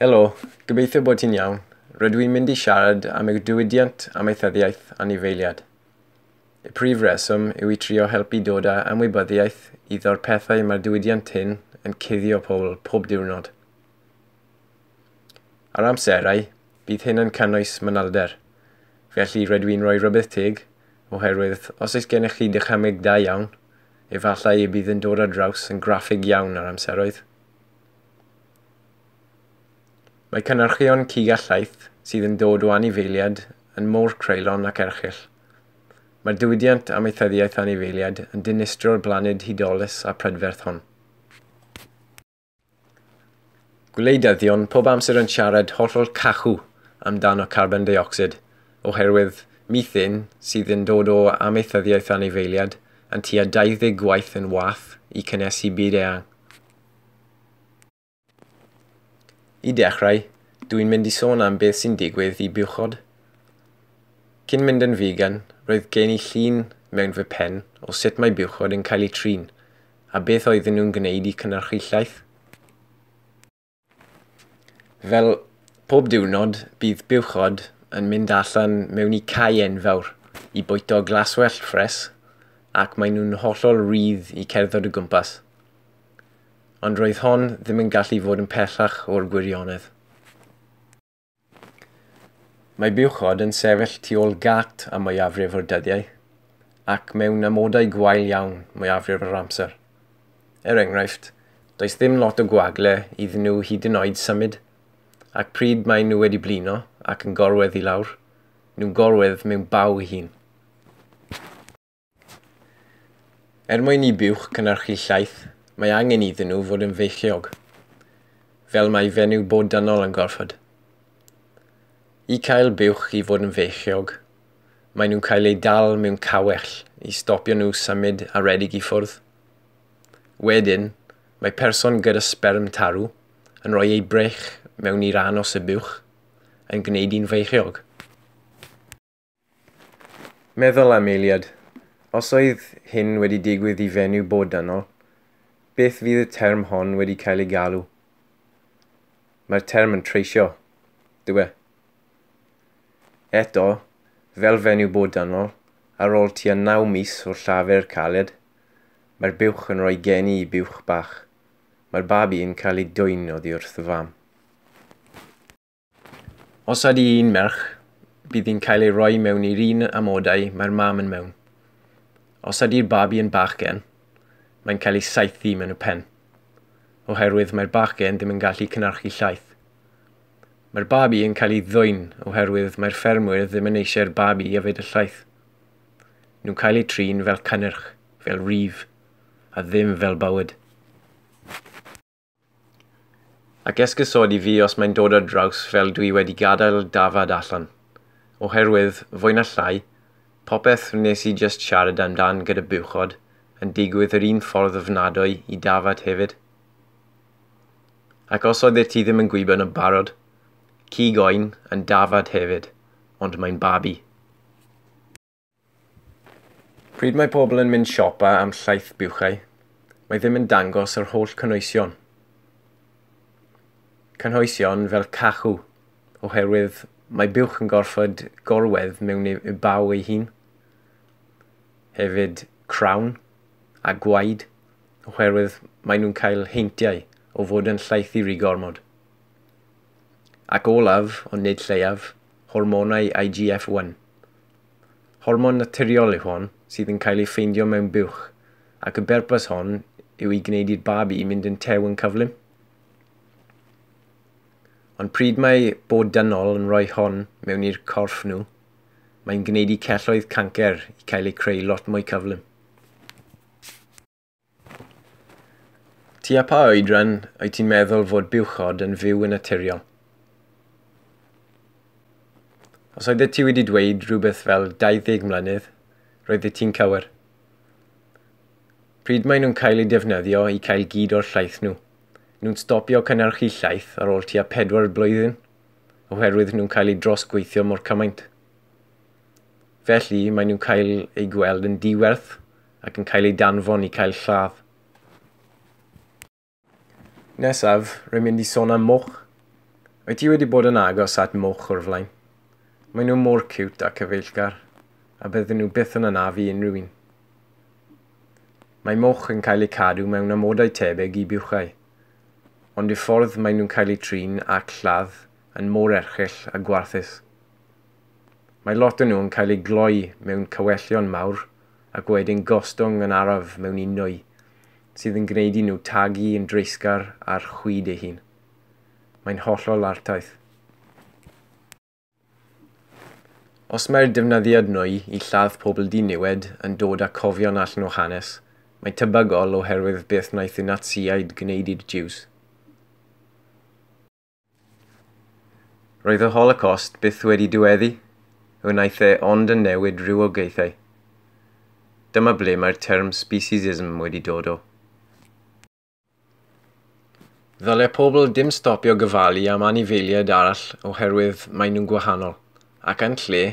Helo, gobeithio bod ti'n iawn. Rydw i'n mynd i siarad am y diwydiant amaethyddiaeth anifeiliad. Y prif reswm yw i trio helpu dod â ymwybyddiaeth iddo'r pethau mae'r diwydiant hyn yn cuddio pobl pob diwrnod. Ar amserau, bydd hyn yn cynnwys manylder. Felly rydw i'n rhoi rhybudd teg, oherwydd os oes gennych chi dychymyg da iawn, efallai y bydd yn dod ar draws yn graffig iawn ar amseroedd. Mae cynhyrchion cig a llaeth sydd yn dod o anifeiliaid yn mor creulon ac erchyll. Mae'r diwydiant amaethyddiaeth anifeiliaid yn dinistro'r blaned hudolus a prydferth hon. Gwleidyddion pob amser yn siarad hollol cachw amdano carbon deuocsid, oherwydd methane sydd yn dod o amaethyddiaeth anifeiliaid yn tua 20 gwaith yn wath i cynhesu byd eang. I dechrau, dw i'n mynd i sôn am beth sy'n digwydd i buchod. Cyn mynd yn vegan, roedd gen i llun mewn fy pen o sut mae buchod yn cael eu trin, a beth oedden nhw'n gwneud i cynhyrchu llaeth. Fel pob diwrnod, bydd buwchod yn mynd allan mewn i cae enfawr i bwyto glaswellt ffres ac maen nhw'n hollol rydd i cerdded o gwmpas. Ond roedd hon ddim yn gallu fod yn pellach o'r gwirionedd. Mae buwchod yn sefyll tu ôl gât am mwyafrif o'r dyddiau, ac mewn amodau gwael iawn mwyafrif yr amser. Er enghraifft, does ddim lot o gwagle iddyn nhw hyd yn oed symud, ac pryd maen nhw wedi blino ac yn gorwedd i lawr, nhw'n gorwedd mewn baw ei hun. Er mwyn i buwch cynhyrchu llaeth, mae angen iddyn nhw fod yn feichiog, fel mae fenyw bod dynol yn gorfod. I cael buwch i fod yn feichiog, mae nhw'n cael eu dal mewn cawell i stopio nhw symud a redig i ffwrdd. Wedyn, mae person gyda sperm tarw yn rhoi ei brech mewn i ran os y buwch yn gwneud i'n feichiog. Meddwl am eiliad. Os oedd hyn wedi digwydd i fenyw bodynol, beth fydd y term hon wedi cael ei galw? Mae'r term yn treisio, dyw e. Eto, fel fenyw bodynol, ar ôl tua naw mis o llafur caled, mae'r buwch yn rhoi geni i buwch bach. Mae'r babi yn cael ei dwyn oddi wrth y fam. Os ydy hi'n merch, bydd hi'n cael ei roi mewn i'r un amodau mae'r mam yn mewn. Os ydy'r babi yn bachgen, mae'n cael ei saethu mewn y pen, oherwydd mae'r bachgen ddim yn gallu cynhyrchu llaeth. Mae'r babi yn cael ei ddwyn oherwydd mae'r ffermwyr ddim yn eisiau'r babi i yfed y llaeth. Nhw'n cael eu trin fel cynnyrch, fel rif, a ddim fel bywyd. Ac esgusodi fi os mae'n dod ar draws fel dwi wedi gadael dafad allan. Oherwydd, fwy na llai, popeth wnes i jyst siarad amdan gyda buwchod yn digwydd yr un ffordd ofnadwy i dafad hefyd. Ac os oeddet ti ddim yn gwybod yn barod, cig oen yn dafad hefyd, ond mae'n babi. Pryd mae pobl yn mynd siopa am llaeth buwchau, mae ddim yn dangos yr holl cynhwysion. Cynhwysion fel cachu, oherwydd mae buwch yn gorfod gorwedd mewn i baw ei hun. Hefyd crawn a gwaed, oherwydd mae nhw'n cael heintiau o fod yn llaethu rhy gormod. Ac olaf, ond nid lleiaf, hormonau IGF-1. Hormon naturiol yw hon sydd yn cael ei ffeindio mewn buwch ac y berpus hon yw i gwneud i'r babi i mynd yn tew yn cyflym. Ond pryd mae bod dynol yn rhoi hon mewn i'r corff nhw, mae'n gwneud i celloedd cancer i cael eu creu lot mwy cyflym. Tua pa oedran wyt ti'n meddwl fod buwchod yn fyw yn naturiol? Os oeddet ti wedi dweud rhywbeth fel 20 mlynedd, roeddet ti'n cywir. Pryd maen nhw'n cael eu defnyddio i cael gyd o'r llaeth nhw? Nhw'n stopio cynnyrchu llaeth ar ôl tua pedwar blwyddyn, oherwydd nhw'n cael eu drosgweithio mor cymaint. Felly, maen nhw'n cael eu gweld yn diwerth ac yn cael eu danfon i cael lladd. Nesaf, rwy'n mynd i sôn am moch. Wyt ti wedi bod yn agos at moch o'r flaen? Maen nhw mor ciwt a cyfeillgar, a bydden nhw byth yn anafu unrhyw un. Mae moch yn cael eu cadw mewn amodau tebyg i buchau, ond y ffordd maen nhw'n cael eu trin ac lladd yn mor erchyll a gwarthus. Mae lot o nhw yn cael eu gloi mewn cawellion mawr ac wedyn gostwng yn araf mewn indoe, sydd yn gwneud i nhw tagu yn dreisgar ar chwyd ei hun. Mae'n hollol artaith. Os mae'r defnyddiad nwy i lladd pobl diniwed yn dod â cofion allan o hanes, mae'n tebygol oherwydd beth wnaeth y Natsïaid gwneud i'r Jiws. Roedd y Holocost byth wedi diweddu, wnaeth e ond yn newid rhywogaethau. Dyma ble mae'r term speciesism wedi dod o. Ddyle pobl dim stopio gofalu am anifeiliaid arall oherwydd maen nhw'n gwahanol, ac yn lle,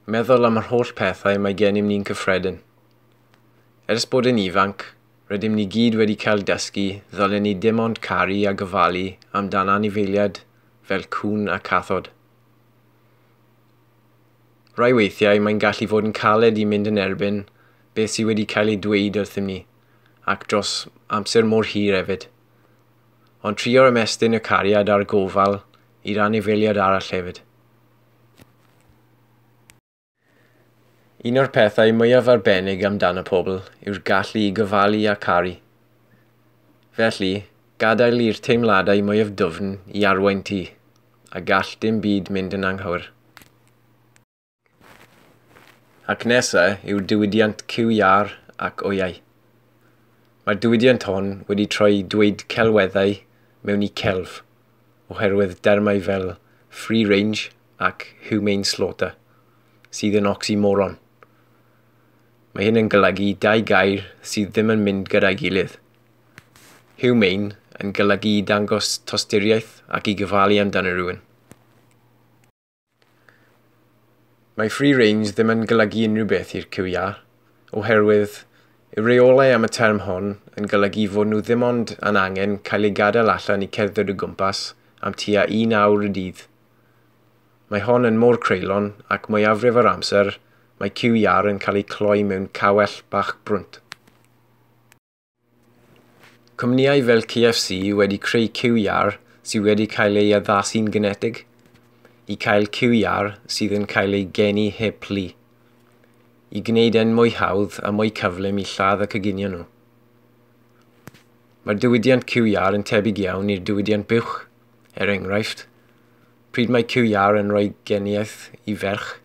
meddwl am yr holl pethau mae gennym ni'n cyffredin. Ers bod yn ifanc, Rydym ni gyd wedi cael dysgu ddylen ni dim ond caru a gofalu amdan anifeiliaid fel cŵn a cathod. Rai weithiau mae'n gallu fod yn caled i mynd yn erbyn beth sydd wedi cael ei dweud wrthym ni, ac dros amser mor hir hefyd. Ond trio ymestyn y cariad a'r gofal i'r anifeiliaid arall hefyd. Un o'r pethau mwyaf arbennig amdan y pobl yw'r gallu i gofalu a caru. Felly, gadael i'r teimladau mwyaf dwfn i arwain ti, a gall dim byd mynd yn anghywir. Ac nesa yw'r diwydiant cyw iâr ac oiau. Mae'r diwydiant hon wedi troi dweud celweddau mewn i celf. oherwydd dermau fel free range ac humane slaughter, sydd yn oxymoron. Mae hyn yn golygu dau gair sydd ddim yn mynd gyda'i gilydd. Humane yn golygu i dangos tosturiaeth ac i gyfalu amdano rhywun. Mae free range ddim yn golygu unrhyw beth i'r cyw iâ, oherwydd y reolau am y term hwn yn golygu fod nhw ddim ond yn angen cael eu gadael allan i cerdded o gwmpas am tua un awr y dydd. Mae hon yn mor creulon ac mwyafrif o'r amser mae cyw iâr yn cael eu cloi mewn cawell bach brwnt. Cwmnïau fel KFC wedi creu QR sydd wedi cael ei addasu'n genetig i gael QR sydd yn cael ei geni heb plu, i gwneud e'n mwy hawdd a mwy cyflym i lladd y coginio nhw. Mae'r diwydiant QR yn tebyg iawn i'r diwydiant buwch, er enghraifft, pryd mae QR yn rhoi geniaeth i ferch,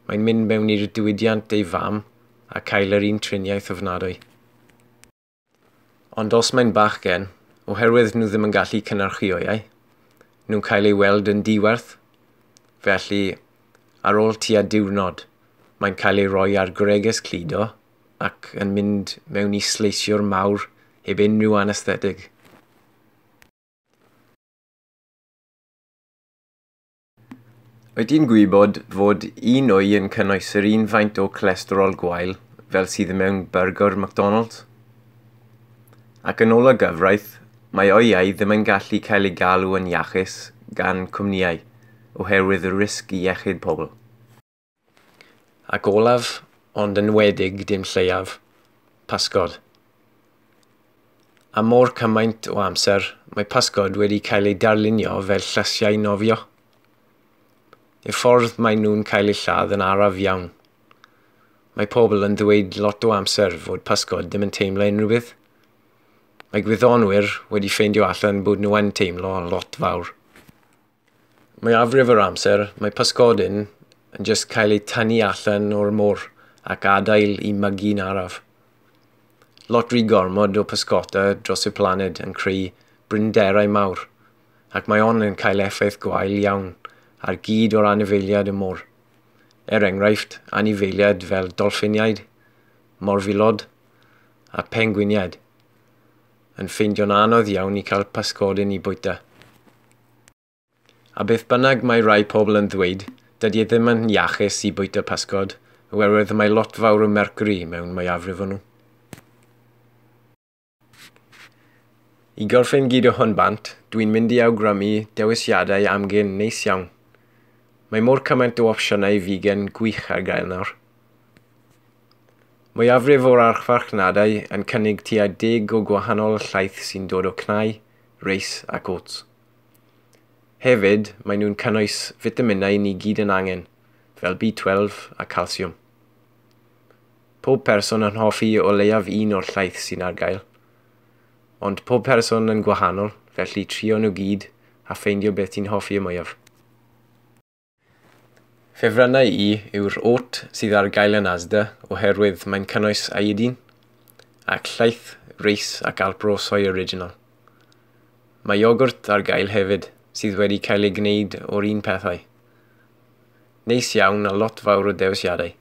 Mae'n mynd mewn i'r diwydiant ei fam a cael yr un triniaeth ofnadwy. Ond os mae'n bachgen, oherwydd nhw ddim yn gallu cynhyrchioiau, nhw'n cael ei weld yn diwerth, felly ar ôl tua diwrnod, mae'n cael ei roi ar greges cludo ac yn mynd mewn i sleisiwr mawr heb unrhyw anesthetig. Wyt ti'n gwybod fod un wy yn cynnwys yr un faint o cholesterol gwael fel sydd mewn byrgr McDonalds? Ac yn ôl y gyfraith, mae oiau ddim yn gallu cael eu galw yn iachus gan cwmnïau oherwydd y risg i iechyd pobl. Ac olaf, ond yn wedig dim lleiaf, pasgod. Am mor cymaint o amser, mae pasgod wedi cael ei darlunio fel llasiau nofio. Y ffordd mae nhw'n cael eu lladd yn araf iawn. Mae pobl yn ddweud lot o amser fod pasgod ddim yn teimlo unrhyw beth. Mae gwyddonwyr wedi ffeindio allan bod nhw yn teimlo lot fawr. Mwyafrif yr amser, mae pysgodyn yn jyst cael eu tynnu allan o'r môr ac adael i mygi'n araf. Lot rhy gormod o pysgota dros y planed yn creu brinderau mawr, ac mae hon yn cael effaith gwael iawn ar gyd o'r anifeiliad y môr. Er enghraifft, anifeiliad fel dolffiniaid, morfilod a phengwiniaid. yn ffeindio'n anodd iawn i cael pysgodyn i bwyta. A beth bynnag mae rai pobl yn ddweud, dydy e ddim yn iachus i bwyta pysgod, oherwydd mae lot fawr o mercury mewn mwyafrif o nhw. I gorffen gyd o hwn bant, dwi'n mynd i awgrymu dewisiadau amgen neis iawn. Mae mor cymaint o opsiynau figan gwych ar gael nawr. Mwyafrif o'r archfarchnadeau yn cynnig tua deg o gwahanol llaeth sy'n dod o cnau, reis ac oats. Hefyd, maen nhw'n cynnwys fitaminau ni gyd yn angen, fel B12 a calsiwm. Pob person yn hoffi o leiaf un o'r llaeth sy'n ar gael. Ond pob person yn gwahanol, felly trio nhw gyd a ffeindio beth ti'n hoffi y mwyaf. Ffefrynnau i yw'r oat sydd ar gael yn Asda oherwydd mae'n cynnwys iodine ac llaeth reis ac alpro soy original. Mae iogwrt ar gael hefyd sydd wedi cael ei gwneud o'r un pethau. Neis iawn a lot fawr o dewisiadau.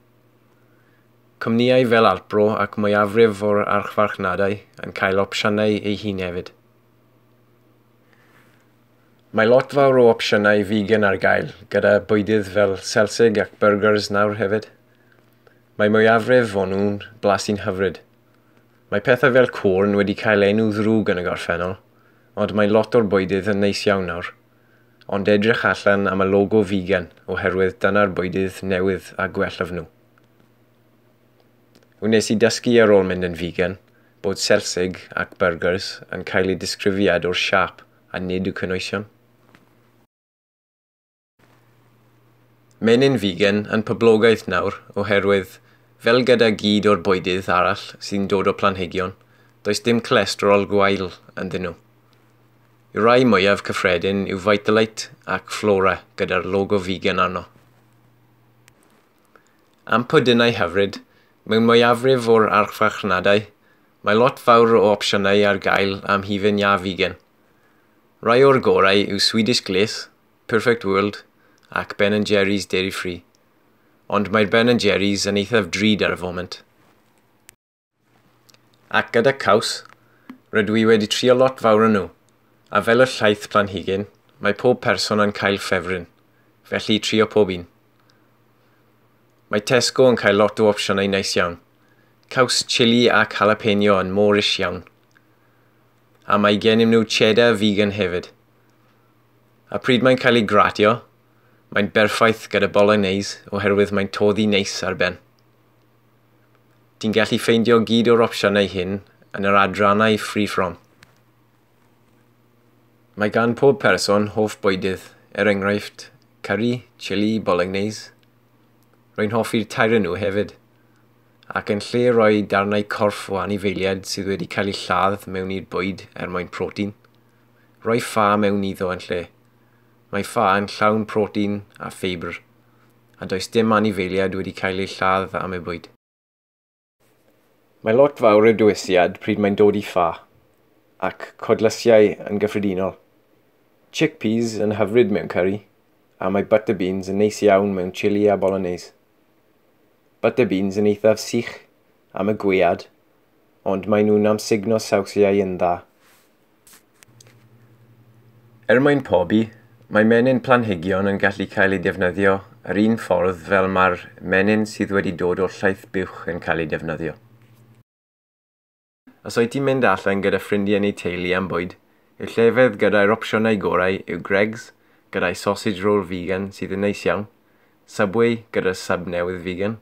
Cwmnïau fel Alpro ac mwyafrif o'r archfarchnadau yn cael opsiynau eu hun hefyd. Mae lot fawr o opsiynau vegan ar gael, gyda bwydydd fel selsig ac byrgyrs nawr hefyd. Mae mwyafrif o nhw'n blasu'n hyfryd. Mae pethau fel corn wedi cael enw ddrwg yn y gorffennol, ond mae lot o'r bwydydd yn neis iawn nawr. Ond edrych allan am y logo vegan oherwydd dyna'r bwydydd newydd a gwellaf nhw. Wnes i dysgu ar ôl mynd yn vegan bod selsig ac byrgyrs yn cael eu disgrifiad o'r siâp a nid y cynwysion. Menyn figen yn poblogaeth nawr oherwydd, fel gyda gyd o'r bwydydd arall sy'n dod o planhigion, does dim cholesterol gwael ynddyn nhw. Y rhai mwyaf cyffredin yw Vitalite ac Flora gyda'r logo figen arno. Am pwdinau hyfryd, mewn mwyafrif o'r archfarchnadau, mae lot fawr o opsiynau ar gael am hufen iâ figan. Rhai o'r gorau yw Swedish Glith, Perfect World ac Ben and Jerry's Dairy Free. Ond mae'r Ben and Jerry's yn eithaf drud ar y foment. Ac gyda caws, rydw i wedi trio lot fawr o nhw, a fel y llaeth planhigyn, mae pob person yn cael ffefryn, felly trio pob un. Mae Tesco yn cael lot o opsiynau neis iawn. Caws chili ac jalapeno yn Moorish iawn. A mae gennym nhw cheddar vegan hefyd. A pryd mae'n cael ei gratio, mae'n berffaith gyda bolognese oherwydd mae'n toddi neis ar ben. Ti'n gallu ffeindio gyd o'r opsiynau hyn yn yr adrannau Free From. Mae gan pob person hoff bwydydd, er enghraifft, curry, chili, bolognese. Rwy'n hoffi'r tair nhw hefyd. Ac yn lle rhoi darnau corff o anifeiliaid sydd wedi cael eu lladd mewn i'r bwyd er mwyn protein, rhoi ffa mewn iddo yn lle. Mae ffa yn llawn protein a ffeibr. a does dim anifeiliaid wedi cael eu lladd fy amebwyd. Mae lot fawr o dywyshiad pryd mae'n dod i ffa, ac codlysiau yn gyffredinol. Chickpeas yn hyfryd mewn curry, a mae butter beans yn neis iawn mewn chili a bolognese. Butter beans yn eithaf sych am y gwead, ond maen nhw'n amsugno sawsiau yn dda. Er mwyn pobi, mae menyn planhigion yn gallu cael eu defnyddio yr un ffordd fel mae'r menyn sydd wedi dod o'r llaeth buwch yn cael ei defnyddio. Os wyt ti'n mynd allan gyda ffrindiau neu teulu am bwyd, y llefydd gyda'r opsiynau gorau yw Greggs, gyda'i sausage roll figan sydd yn neis iawn, Subway gyda'r sub newydd figan,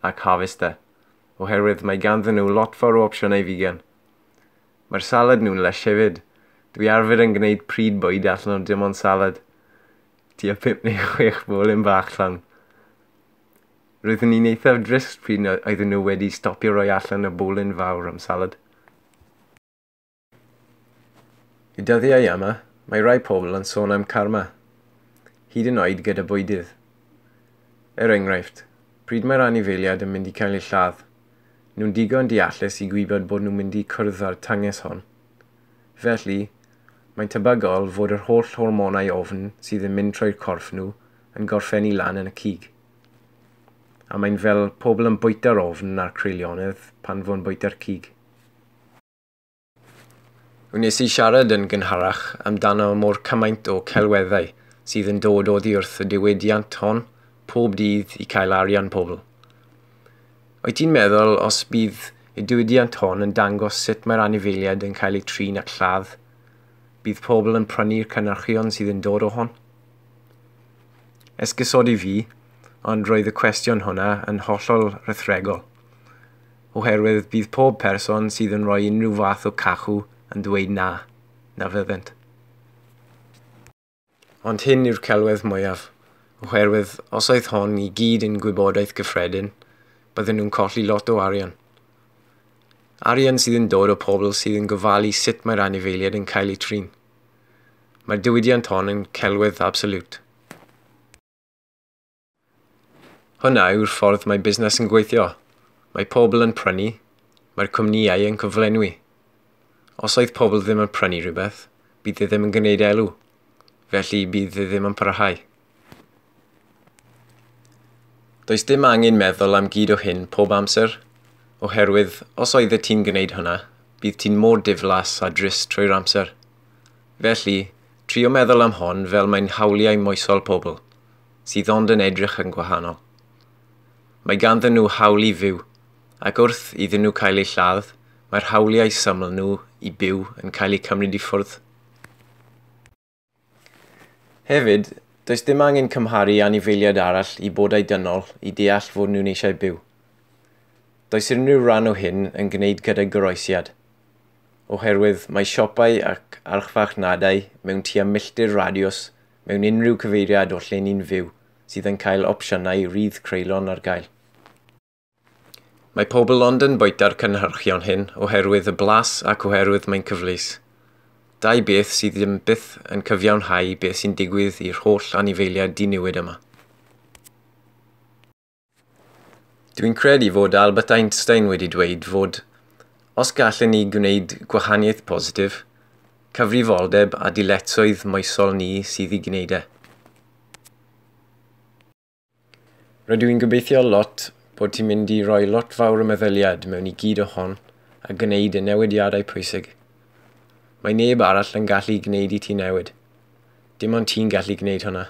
ac Harvester, oherwydd mae ganddyn nhw lot fawr o opsiynau figan. Mae'r salad nhw'n lysh hefyd. Dwi arfer yn gwneud pryd bwyd allan o dim ond salad. Tua pump neu chwech bolyn bach allan. Roeddwn i'n eithaf drist pryd na oedden nhw wedi stopio roi allan y bolyn fawr am salad. Y dyddiau yma, mae rhai pobl yn sôn am karma, hyd yn oed gyda bwydydd. Er enghraifft, pryd mae'r anifeiliad yn mynd i cael ei lladd, nhw'n digon deallus i gwybod bod nhw'n mynd i cwrdd â'r tynges hon. Felly, mae'n tebygol fod yr holl hormonau ofn sydd yn mynd trwy'r corff nhw yn gorffennu lan yn y cig. A mae'n fel pobl yn bwyta'r ofn a'r creulionedd pan fo'n bwyta'r cig. Wnes i siarad yn gynharach amdano mor cymaint o celweddau sydd yn dod oddi wrth y diwydiant hon pob dydd i cael arian pobl. Wyt ti'n meddwl os bydd y diwydiant hon yn dangos sut mae'r anifeiliaid yn cael eu trin at lladd, bydd pobl yn prynu'r cynnyrchion sydd yn dod o hon? Esgusodi fi, ond roedd y cwestiwn hwnna yn hollol rithregol. oherwydd bydd pob person sydd yn rhoi unrhyw fath o cachu yn dweud na, na fyddent. Ond hyn yw'r celwedd mwyaf, oherwydd os oedd hon i gyd yn gwybodaeth gyffredin, bydden nhw'n colli lot o arian. Arian sydd yn dod o pobl sydd yn gofalu sut mae'r anifeiliaid yn cael eu trin. Mae'r diwydiant hon yn celwedd absolut. Hwnna yw'r ffordd mae busnes yn gweithio. Mae pobl yn prynu, mae'r cwmnïau yn cyflenwi. Os oedd pobl ddim yn prynu rhywbeth, bydd e ddim yn gwneud elw, felly bydd e ddim yn parhau. Does dim angen meddwl am gyd o hyn pob amser, oherwydd os oeddet ti'n gwneud hwnna, bydd ti'n mor diflas a drist trwy'r amser. Felly, trio meddwl am hon fel mae'n hawliau moesol pobl. sydd ond yn edrych yn gwahanol. Mae ganddyn nhw hawl i fyw, ac wrth iddyn nhw cael eu lladd, mae'r hawliau syml nhw i byw yn cael eu cymryd i ffwrdd. Hefyd, does dim angen cymharu anifeiliaid arall i bodau dynol i deall fod nhw'n eisiau byw. Does unrhyw ran o hyn yn gwneud gyda goroesiad, oherwydd mae siopau ac archfarchnadau mewn tua milltir radiws mewn unrhyw cyfeiriad o lle ni'n fyw sydd yn cael opsiynau rydd creulon ar gael. Mae pobl ond yn bwyta'r cynhyrchion hyn oherwydd y blas ac oherwydd mae'n cyfleus. Dau beth sydd ddim byth yn cyfiawnhau beth sy'n digwydd i'r holl anifeiliaid diniwed yma. Dwi'n credu fod Albert Einstein wedi dweud fod os gallen ni gwneud gwahaniaeth positif, cyfrifoldeb a dyletswydd moesol ni sydd i gwneud e. Rydw i'n gobeithio lot bod ti'n mynd i roi lot fawr o meddyliad mewn i gyd o hon a gwneud y newidiadau pwysig. Mae neb arall yn gallu gwneud i ti newid. Dim ond ti'n gallu gwneud hwnna.